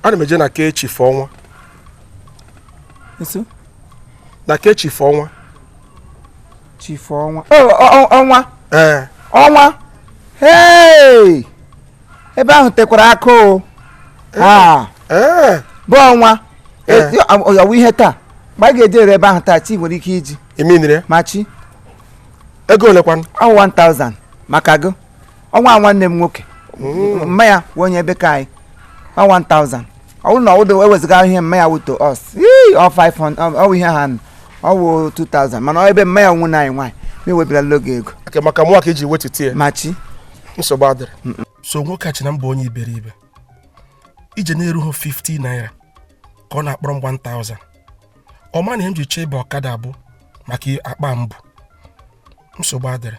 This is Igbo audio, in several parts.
ana m eje na ke chief ọnwa nso na ke chief ọnwa chief ọnwa Oh, ọ- ọ- ọnwa ee ọnwa hey ebe ahụ tekwara aka o Ah, ee bụ ọnwa Eh. ọ ya wụ ihe taa mgbe a ga-ejeru ebe ahụ taa chi nwere ike iji iminire ma chi ego olekwanụ ọ 1000 maka gị ọnwa nwanne m nwoke mma ya wụ onye ebe ke anyị ọ 1000 ọ bụrụ na ọ wụ ewezụga ihe mma ya wụ to us ii, ọ 500 ọ- ọ wụ ihe ha nụ ọ wụ 2000 mana ọ ebe mma ya wụ nwa anyị nwaanyị m ewebilala gị ego okay maka mụwa ka e ji wetụta ya machi nsogbu adịrọ so nwoke a che na m bụ onye iberibe ije na-erughị 50 naira ka ọ na-akpọrọ m 1000 ọ ma na ihe m ji chee ịba ọkada bụ maka akpa m bu nsogbu adịrọ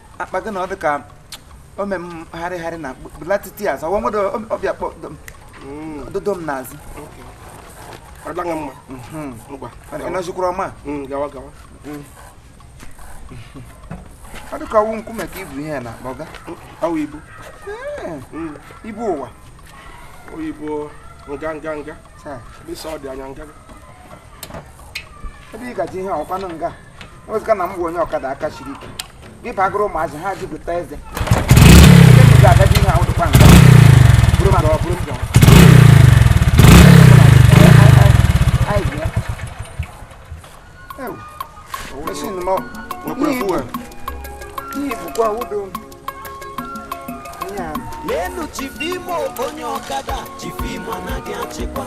akpa gị na ọ dị ka o mee m harịgharị na blatiti azụ ọwa nwere ọ bịa kpọ dodo m n'azụ ọ dịla mma mhm. ngwa ị nọzikwara ọma mm, gawa gawa mm. ọ dị ka ọ wụ nkume ka i bu ihe n'akpa a ọ wụ ibu mm. ibu ụwa oyibo nga nga nga ebe ị gaji ihe ọ kwanụ nga ewezụga na m bụ onye ọkada aka siri ike gị bagoro ụmụazị ha jupụta eze ga-agaji ihe ahụ dịkwa nga bụrụ maka ọ bụrụ njọ leenụ chief Imo onye ọkada chief Imo anaghị achịkwa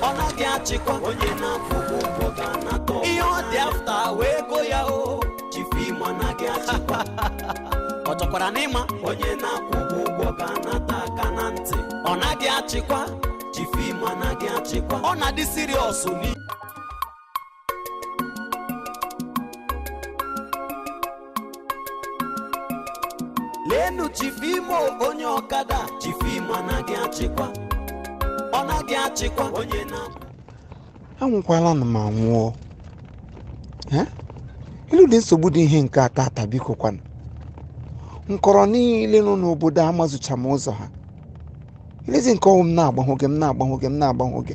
ọ naghị achịkwa onye na-akwụ ụgwọ ga anata ihe ọ dị after wee go ya o chief Imo anaghị achịkwa ọ chọkwara na ị ma onye na-akwụ ụgwọ ga anata aka na ntị ọ naghị achịkwa chief Imo anaghị achịkwa ọ na-adị serious nụ leenụ chief Imo onye ọkada chief Imo anaghị achịkwa ọ naghị achịkwa onye na anwụkwala nụ m anwụọ Eh? olee ụdị nsogbu dị ihe nke a taa biko kwanụ nkọrọ niile nọ n'obodo amazucha m ụzọ ha olezi nke ọ wụ m na-agbahọ gị m na-agbahọ gị m na-agbahọ gị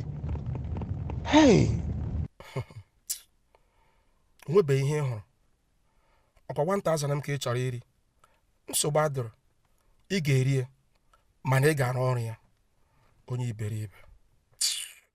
hei o nwebeghị ihe ị hụrụ ọ kwa 1000 m ka ị chọrọ iri nsogbu adịrọ ị ga-eri ya mana ị ga-arụ ọrụ ya onye iberibe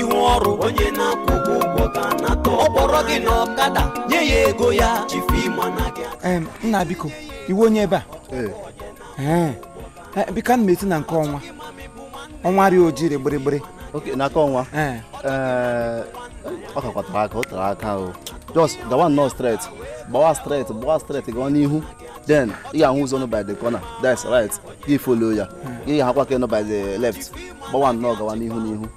ihu ọrụ onye na-akwụ gị ụgwọ ka anata ọ kpọrọ gị na ọkada nye ya ego ya Chief Imo anaghị achịkwa Em, nna biko ị wụ onye ebe a Ee. Eh, biko ana m eti na nke ọnwa ọnwa rịa ojiri gbịrịgbịrị okay n'aka ọnwa Ee. Ee, ọ kakwa tere aka o tere aka o just gawa nnọọ straight gbawa straight gbawa straight gawa n'ihu then ị ga-ahụ ụzọ nọ by the corner that's right gị follow ya gị ga-ahụkwa ke nọ by the left gbawa nnọọ gawa n'ihu n'ihu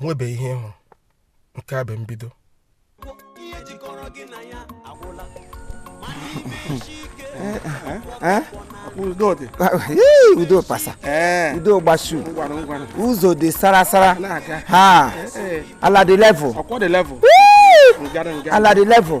nwebe ihe ị hụ nke a bụ mbido udo pasa udo gbasu ụzọ dị sara sara ha ala dị level ala dị level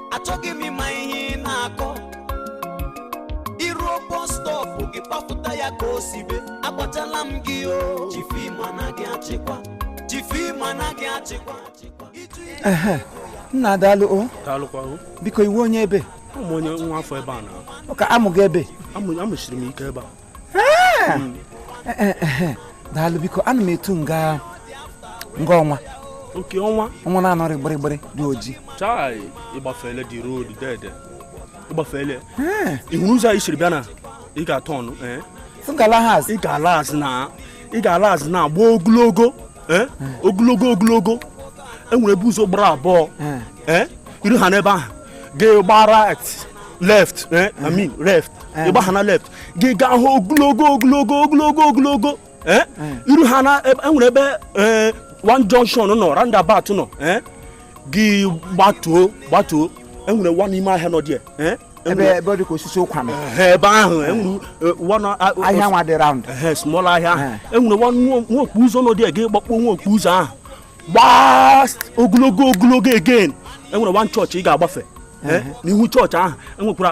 achọghị m ịma ihe ị na-akọ i ruo bus stop gị kpafụta ya ka o sibe agwachala m gị o Chief Imo anaghị achịkwa Chief Imo anaghị achịkwa Ịjụ ije ehe nna daalụ o daalụkwa o biko ị wụ onye ebe awụ m onye nwa afọ ebe a na ọ ka amụghị ebe amụ- amụchiri m ike ebe a daalụ biko ana m etu nga nga ọnwa nke ọnwa ọnwa na-anọrị gbịrịgbịrị dị oji chai ị gbafele the road dede ị gbafele ị hụ ụzọ anyị siri bịa na ị ga-aturn eh? ị ga-ala azụ na ị ga-ala azụ na-agba ogologo eh? ogologo ogologo enwere ebe ụzọ gbara abụọ eh? i ruha n'ebe ahụ gị gbaa right left eh? I mean left ị gbaha na left gị gaha ogologo ogologo ogologo ogologo eh? Hmm. i ruha na enwere ebe eh, one junction nọ roundabout nọ eh? gị gbatuo gbatuo enwere one ime ahịa nọ dị ebe ebe dị ka osisi ụkwa nọ ebe ahụ enwere one ahịa nwa dị round small ahịa ahụ enwere one nwa okpu ụzọ nọ dị gị gbakpọ nwa okpu ụzọ ahụ gbaa ogologo ogologo again enwere one chọọchị ị ga-agbafe n'ihu chọọchị ahụ enwekwara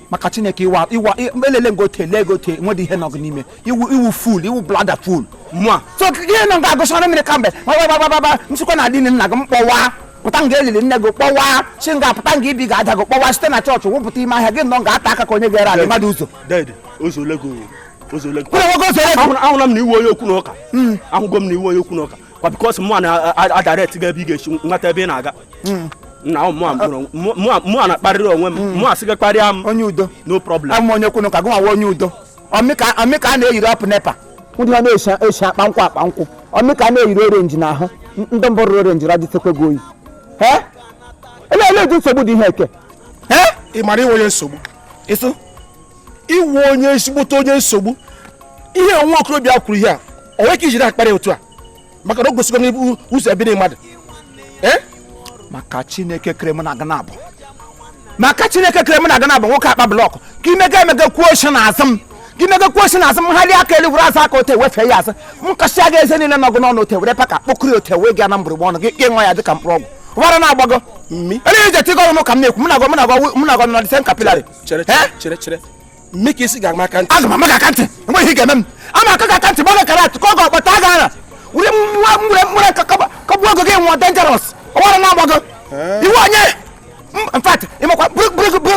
maka chineke iwa iwa elele ngote lee gote nwedị ihe nọ gị n'ime ị wụ ị wụ fool ị wụ bloody fool mụa so ihe nọ ga-agụsara mmiri kamgbe gbagbagbagbagba nsịkwa na adịghị nna gị m kpọwa pụta nga elili nne gị kpọwa si nga pụta nga ibi ga-ada gị kpọwa site na chọọchị wụpụta ime ahịa gị nọ nga ata aka ka onye ga-ere ala mmadụ ụzọ ahụla m na ị wụ onye okwu na ụka hmm. ahụgo m na ị wụ onye okwu na ụka kwa because mụ na-adirect gị ebe ị ga-esi nweta ebe ị na-aga hmm. na mụwa na-akparịrị onwe m mụ hmm. a sị gị kparịa m onye udo no problem awụ m onye kwunu ka gị nwa onye udo ọ mụ ka a na-eyiri up NEPA ndị ha na-esi akpa nkwụ akpa nkwụ ọ mụ ka a na-eyiri orenji n'ahụ ndị mbụ rụrụ orenji radịtekwa gị oyi ele ele eji nsogbu dị ihe eke ị mara ị wụ onye nsogbu ịsụ ị wụ onye ezigbote onye nsogbu ihe nwa okorobịa kwuru ihe a o nwere ka ijiri akparị otu a maka na o gosigo n'ibu ụzọ ebiri mmadụ eh? maka chineke kere m na aga na-abụ maka chineke kere m na aga na-abụ nwoke akpa blọkụ ka imega emega kwuo oshi na azụ m ka imega kwuo oshi na azụ m ha aka elu were azụ aka ote wefee ya azụ m kasịa gị eze niile nọ gị n'ọnụ ote were paka kpokọrọ ote wee gaa na mgbụrụgba ọnụ gị ka ị ṅụọ ya dịka mkpụrụ ọgwụ ọbara na-agbago elu ije tigoro m ka m na-ekwu m na-agọ m na-agọ m na-agọ nọdịsen capillary chere eh? chere chere mme ka ị sị ga-ama aka ntị aga m ama gị aka ntị enweghị ihe ga-eme m ama aka gị aka ntị gbaga kara atụ ka ọ ga-akpata aga ara were nwa nwere nwere kụgbuo gị gị nwụọ dangerous ọbara na-agbago eh? ị wụ onye in fact ịmakwa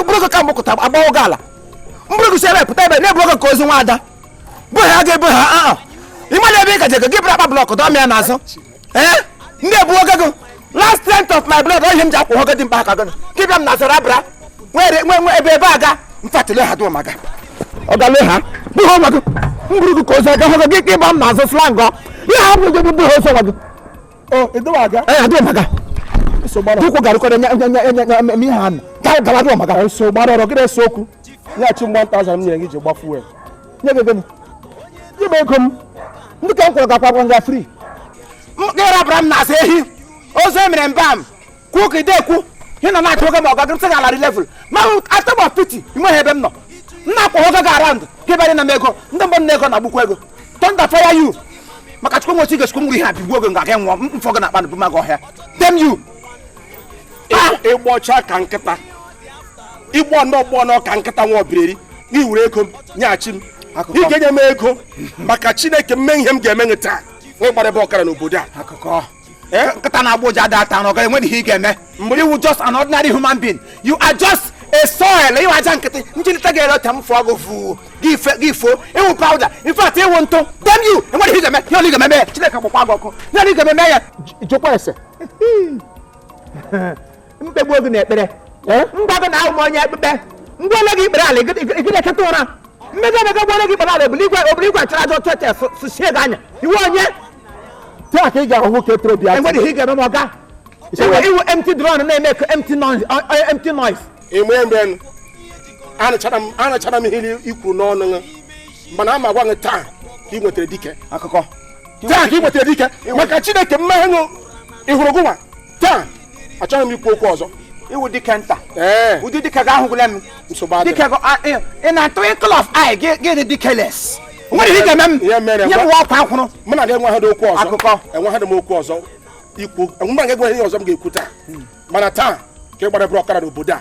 bụrụgo ka mgbakọta agbawo gị ala m buru gị si ebe pụta ebe na-ebu gị ka ozu nwa ada bụ ha ga-ebu ha aa ah, ah. ịmana ebe ị gaje gị buru akpa blọkụ dọọ m ya n'azụ ee eh? ndị ebuo gago last cent of my blood ihe m ji akwụ hogo dị mkpa aka gị gị bịa m na zara abara nwere nwe nwe ebe ebe aga mfatile ha dụọ maga ọgale ha bụghị ọnwa gị m buru gị ka ozu aga hogo gị ka ị bịa m n'azụ slang ihe ha bụrụ gị bụghị ozi ọnwa gị edowa aga ee adụọ maga tukwu garịkọrọ nye nye nye nye ihe ha na gawa dụọ maga eso gbara ọrụ gị na-ese okwu nyeghachi m 1000 m nyere gị ji gba fuel nye gị ego m nye m ego m ndị ka m kwụrụ gakwa gwa nga free gịrabara m na-asa ehi ozu emere mba m kwuo ka ide ekwu ị nọ na-achọ oge ma ọga gịrịsị ga-ala ri level ma atom of pity inweghị ebe m nọ m na-akwa oge ga around gị bịara na m ego ndị mgbe m na ego na-agbukwa ego thunder fire you maka chukwu nwechi gechukwu ngwuri ha bigbuo gị nga gị nwụọ m- mfọ gị na-akpa na buma gị ọhịa damn you ị gbọcha ka nkịta ịgbọ ndị ọgbọ ka nkịta nwa ọbireri gị were ego m nyeghachi m ị ga-enye m ego maka chineke m mee ihe m ga-eme nye taa nwe gbara ebe ọkara n'obodo a eh? nkịta na-agba ụja ada ata ọ gaghị enwe ihe ị ga-eme mgbe ị wụ just an ordinary human being you are just a soil ị wụ aja nkịtị njilite ga-ere ọta m fụọ gị fụ gị fo ị wụ powder in fact ị wụ ntụ damn you enweghị ihe ị ga-eme ihe ole ị ga-eme ya chineke gbakwa gị ọkụ ihe ole ị ga-eme ya jụkwa ese m kpegbuo gị n'ekpere m gwa gị na awụ m onye ekpekpe ngwa ole gị ikpere ala gị na-echeta ụra mmega emega gwa ole gị ikpere ala obili igwe obili igwe achara aja otu etes susie gị anya ị wụ onye taa ka ị ga-ahụ nwoke toro bịa enweghị ihe ị ga-eme ma ọga ị wụ empty drum na-eme ka empty noise empty noise ịmụ ya mgbe anụchara m ihe i kwuru n'ọnụ gị mana ama gwa gị taa ka ị nwetara dike akụkọ taa ka ị nwetara dike maka chineke mmehie ṅụ ị hụrụ gụnwa taa achọghị m ikwu okwu ọzọ ị wụ dike nta ụdị dike gị ahụgwụla m dike in a twinkle of eye gị dị dikeless nwere ihe ga-eme m nye m ọkwa akwụrụ mụ na gị enweghị okwu ọzọ akụkọ enweghị m okwu ọzọ ikwu enwere gị enweghị ihe ọzọ m ga-ekwu taa hmm. mana taa ka ị gbara bụrụ ọkara n'obodo a